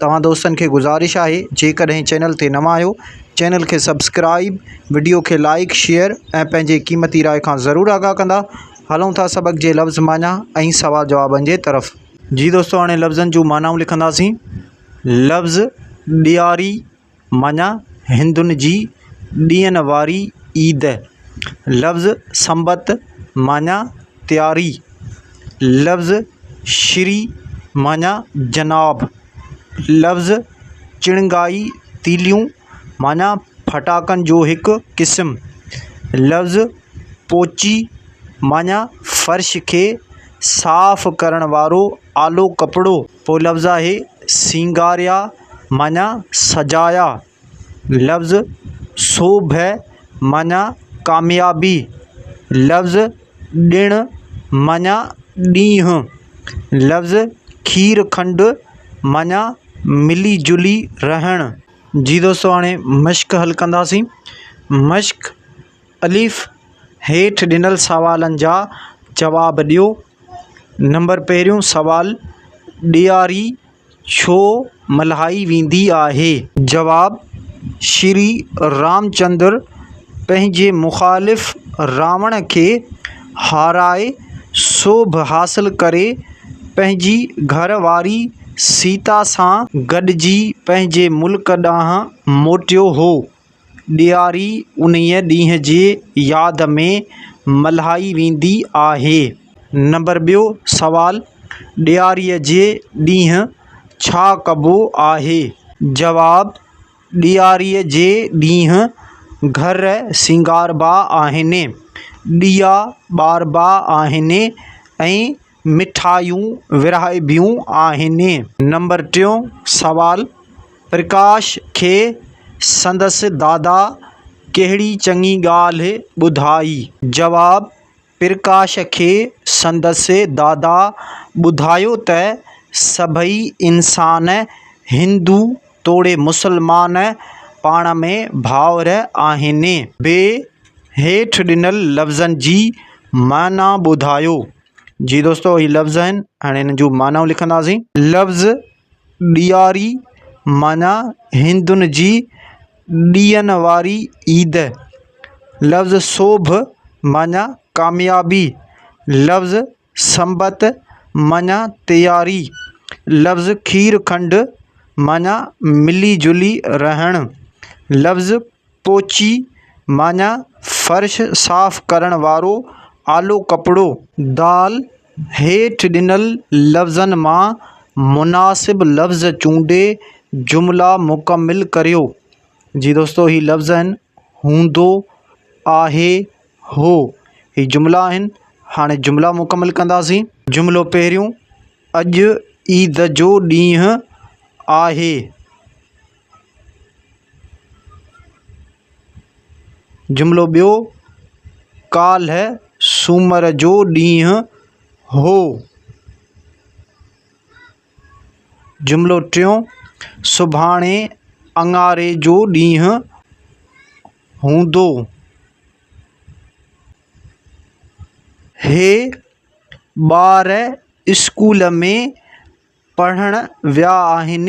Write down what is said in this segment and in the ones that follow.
توهان دوستن کي گذارش آهي جيڪڏهن چينل تي نوان آهيو چينل کي سبسڪرائيب وڊيو کي لائيڪ شيئر ۽ پنهنجي قيمتي راء کان ضرور آگاهه ڪندا هلون ٿا سبق جي لفظ معنيٰ ۽ سوال جوابن جي طرف جي دوستو هاڻي لفظن جون معنائون لکنداسين لفظ ڏياري معنيٰ، هندن جي ڏينهن واري عيد. لفظ سنبت معنيٰ تياري. لفظ شري معنيٰ جناب. لفظ چڻگائي تيليون معنيٰ ڦٽاڪن جو هڪ قسم. لفظ پوچي معنيٰ فرش کي صاف ڪرڻ وارو آلو ڪپڙو. ٻيو لفظ آهي سينگاريا. معنيٰ سجايا، لفظ صبح معنيٰ ڪاميابي، لفظ ڏڻ معنيٰ ڏينهن، لفظ کير کنڊ معنيٰ ملي جلي رهڻ. جي دوستو هاڻي مشق حل ڪنداسين. مشق، الف، هيٺ ڏنل سوالن جا جواب ڏيو. نمبر پهريون سوال، ڏياري ڇو ملهائي ويندي آهي؟ جواب، شري رامچندر پنهنجي مخالف راوڻ کي هارائي سوڀ حاصل ڪري پنهنجي گهر واري سيتا سان گڏجي پنهنجي ملڪ ڏانهن موٽيو هو. ڏياري انهيء ڏينهن جي ياد ۾ ملهائي ويندي آهي نمبر ٻيو سوال ڏياري جي ڏينهن ڇا ڪبو آهي جواب ڏياري جي ڏينهن گهر سينگاربا آهن ڏيئا ٻاربا آهن ۽ مٺايون ورهائبيون آهن. نمبر ٽيون سوال، پرڪاش کي سندس دادا ڪهڙي چڱي ڳالهه ٻڌائي؟ جواب، پرڪاش کي سندس دادا ٻڌايو ته سڀئي انسان هندو توڙي مسلمان پاڻ ۾ ڀائر آهن. ب، هيٺ ڏنل لفظن جي معنيٰ ٻڌايو. جي دوستو هي لفظ آهن هاڻي هنن جون معنائون لکنداسين لفظ ڏياري معنيٰ هندن جي ڏيئن واري عيد لفظ سوڀ معنيٰ ڪاميابي لفظ سنبت معنيٰ تياري لفظ کير کنڊ معنيٰ ملي جلي رهڻ لفظ پوچي معنيٰ فرش صاف ڪرڻ وارو آلو ڪپڙو. دال، هيٺ ڏنل لفظن مان مناسب لفظ چونڊي جملا مڪمل ڪريو. جي دوستو هي لفظ آهن، هوندو، آهي، هو. هي جملا آهن. هاڻي جملا مڪمل ڪنداسين. جملو پهريون، اڄ عيد جو ڏينهن آهي. جملو ٻيو، ڪالهه سومر جو ڏينهن هو. جملو ٽيون، سڀاڻي اڱاري جو ڏينهن هوندو. هي ٻار اسڪول ۾ پڙهڻ ويا آهن.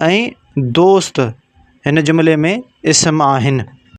۽ دوست هن جملي ۾ اسم آهن